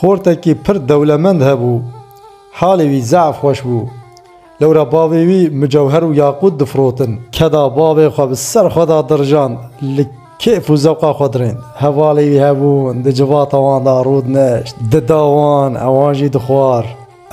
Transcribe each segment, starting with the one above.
Xortekî pir dewlemend hebû. Halê wî zaf xweş bû. Lewra bavê wî mucewher û yaqût difirotin. Keda bavê xwe bi ser xwe de dirjand, li kêf û zewqa xwe dirênd. Hevalê wî hebûn, di civata wan de rû dineşt, dida wan, ewan jî dixwar.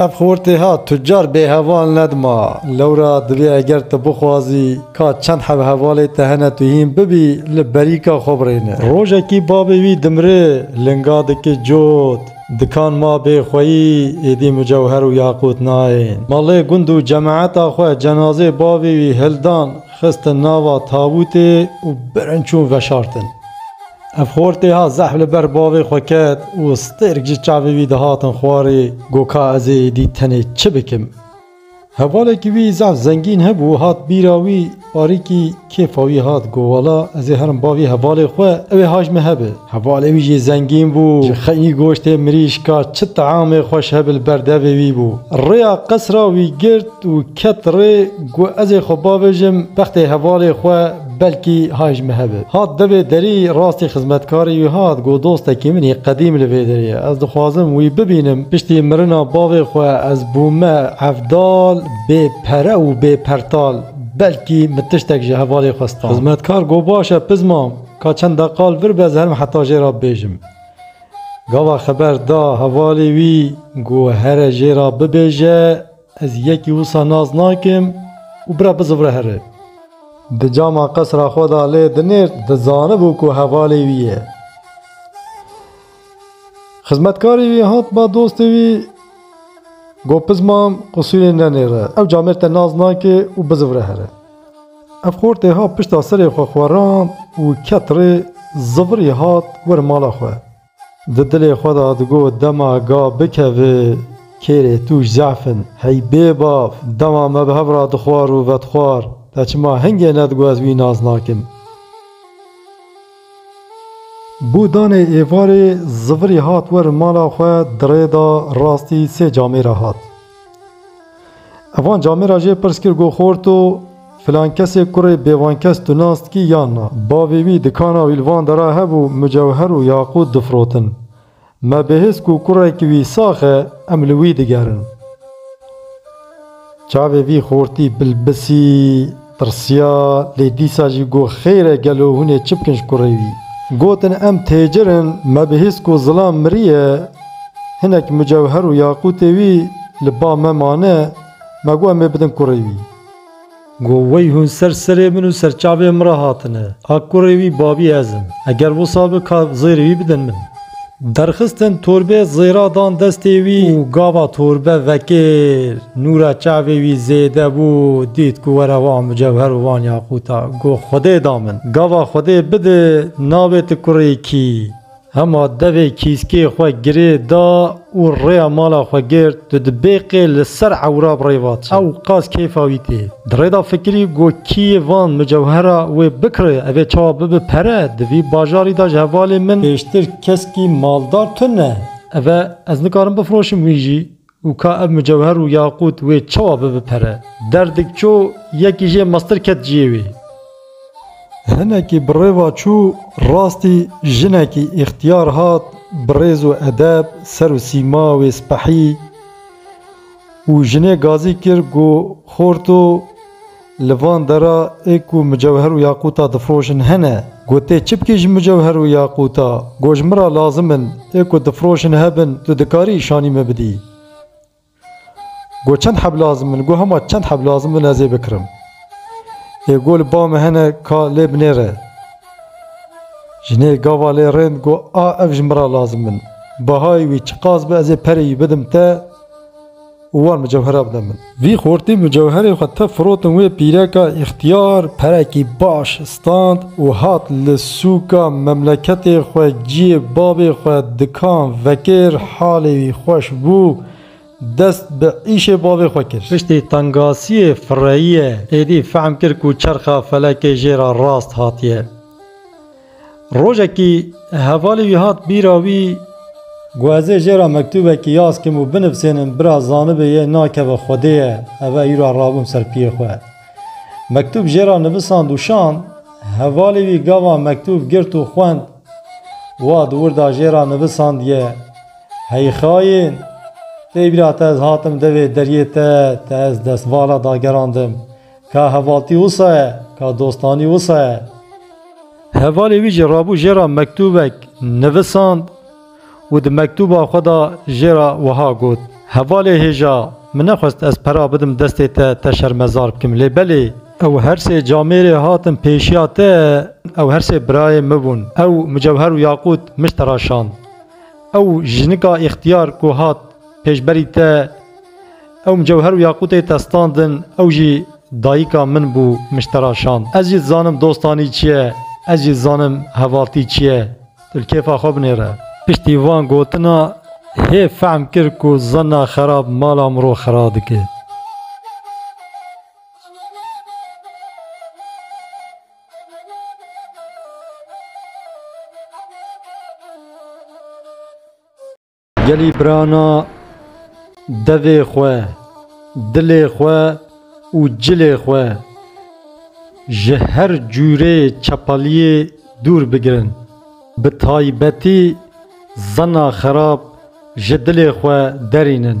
Ev xortêha tucar bêheval nedima. Lewra divê eger tu bixwazî ka çend hevhevalê te hene tu hîn bibî li berîka xwe birêne. Rojekî bavê wî dimire, linga dike cot. Dikan ma bê xweyî êdî mucewher û yaqût nayên. Malê gund û cemaeta xwe cenazê bavê wî hildan xistin nava tabûtê û birin çûn veşartin. Ev xortê ha zehf li ber bavê xwe ket û stêrk ji çavê wî dihatin xwarê, got ka ez ê êdî tenê çi bikim. Hevalekî wî zehf zengîn hebû, hat bîra wî, parîkî kêfa wî hat, got wala ez ê herim bavî hevalê xwe, ew ê haj min hebe. Hevalê wî jî zengîn bû, ji xeynî goştê mirîşka çi teamê xweş hebe li ber devê wî bû. Rêya qesra wî girt. Û ket rê ku ez ê xwe bavêjim bextê hevalê xwe belkî hay ji min hebit. Hat devê derî rastî xizmetkarî wî hat got dostekî min î qedîm li vê derê ye. Ez dixwazim wî bibînim. Piştî mirina bavê xwe ez bûme hevdal bê pere û bê pertal. Belkî min tiştek ji hevalê xwe stand. Xizmetkar got baş e piz mam, ka çend deqa li vir be ez herim heta jê re bibêjim. Gava xeber da hevalê wî got here jê re bibêje. Ez yekî wisa nas nakim û bira bizivre here. Di cama qesra xwe de lê dinêrt, dizanibû ku hevalê wî ye. Xizmetkarê wî hat ba dostê wî, Got piz mam, qisûrê nenêre, ew camêr te nas nake û bizivre here. Ev xortê hat pişta serê xwe xwerand û ket rê, zivirî hat wer mala xwe. Di dilê xwe de digot, Dema ga bikevê kêrê tûj zehf in. Hey bêbav! Dema me bi hev re dixwar û vedixwar, te çima hingê nedigot ez wî nas nakim? Bû danê êvarê, Zivirî hat werin mala xwe, di rê de rastî sê camêre hat. Evan camê ra jê pirs kir go xort to filan kesê kurê bêvankes tu nas dikî yan na? Bavê wî dikana wîlvan de ra hebû mucewher û yaqût difirotin. Me bihîst ku kurekî wî sax e em li wî digerin. Çavê vî xortî bilbisî. Tirsiya, lê dîsa jî got, Xêr e, gelo hûn ê çi bikin ji kurê wî? Gotin, Em têcir in, me bihîst ku zilam miriye, hinek mucewher û yaqûtê wî li ba me mane, me got em ê bidin kurê wî. Got, Wey hûn ser serê min û ser çavê min re hatine. A kurê wî, babî ez im. Eger wisa bi, ka zêrê wî bidin min. Derxistin torbê zêra dan destê wî û gava torbe vekir. Nûra çavê wî zêde bû, dît ku were wan mucewher û wan yaqûta. Got, Xwedê da min. Gava Xwedê bide, nabê tu kurê kî. Hema devê kîskê xwe girê da û rêya mala xwe girt, tu di bêqê li ser ewra bi rê va çi? Ew qas kêfa wî tê. Di rê de fikirî got kî yê van mucewhera wê bikire ev ê çawa bibe pere, di vî bajarî de ji hevalê min pêştir keskî maldar tune. Ev e, ez nikarim bifiroşim wî jî û ka ev mucewher û yaqût wê çawa bibe pere. Derdik çû, yekî jê mestir ket ciyê wê. Hinekî bi rêva çû rastî jinekî îxtiyar hat bi rêz û edeb ser û sîma wê spehî û jinê gazî kir ku Xor to li van dera ê ku micewher û yaqûta difiroşin hene. Got tê çi bikî ji micewher û yaqûta? Got ji min re lazim in, ê ku difiroşin hebin tu dikarî îşanî min bidî. Got çend heb lazim in? Got hema çend heb lazim bin ez ê bikirim. Ê got li ba min hene ka lê binêre. Jinê gava lê rind got a ev ji min re lazim in. Behayê wî çiqas be ez ê perê wî bidim te û wan mucewhera bide min. Vî xortî mucewherê xwe tef firotin wê pîreka îxtiyar perekî baş Stand û hat li sûka memleketê xwe ciyê babê xwe dikan vekir halê wî xweş bû dest bi îşê babê xwe kir. Piştî tengasiyê fireyiyê êdî fehm kir ku çerxa felekê jê re rast hatiye. Rojekî hevalê wî hat bîra wî. Ku ez ê jê re mektûbekî yaz kim û binivsênim bira zanibê yê nakeve xwedê ye ev e îro rabûm ser piyê xwe. Mektûb jê re nivisand û şand. Hevalê wî gava mektûb girt û xwend. Wa di wirda jê re nivisandiye, Hey xayên! Tey bîra te ez hatim devê deriyê te, te ez destvala dageran dim. Ka hevaltî wisa ye, ka dostanî wisa ye. Hevalê wî jî rabû jê re mektûbek nivisand. û di mektûba xwe de jê re wiha got, Hevalê hêja, min nexwest ez pera bidim destê te, te şermezar bikim, lê belê, ew her sê camêrê hatin pêşiya te, ew her sê birayê min bûn, ew mucewher û yaqût mij te re şand, ew jinika îxtiyar ku hat pêşberî te, ew mucewher û yaqûtê te standin, ew jî dayika min bû, mij te re şand. Ez jî dizanim dostanî çi ye, ez jî dizanim hevaltî çi ye. Tu li kêfa xwe binêre. Piştî van gotina hê fehm kir ku zanna xerab mala mirov xera dike. Gelî birana devê xwe, dilê xwe û cilê xwe ji her cûrê çepaliyê dûr bigirin. Bi taybetî zana xerab ji dilê xwe derînin.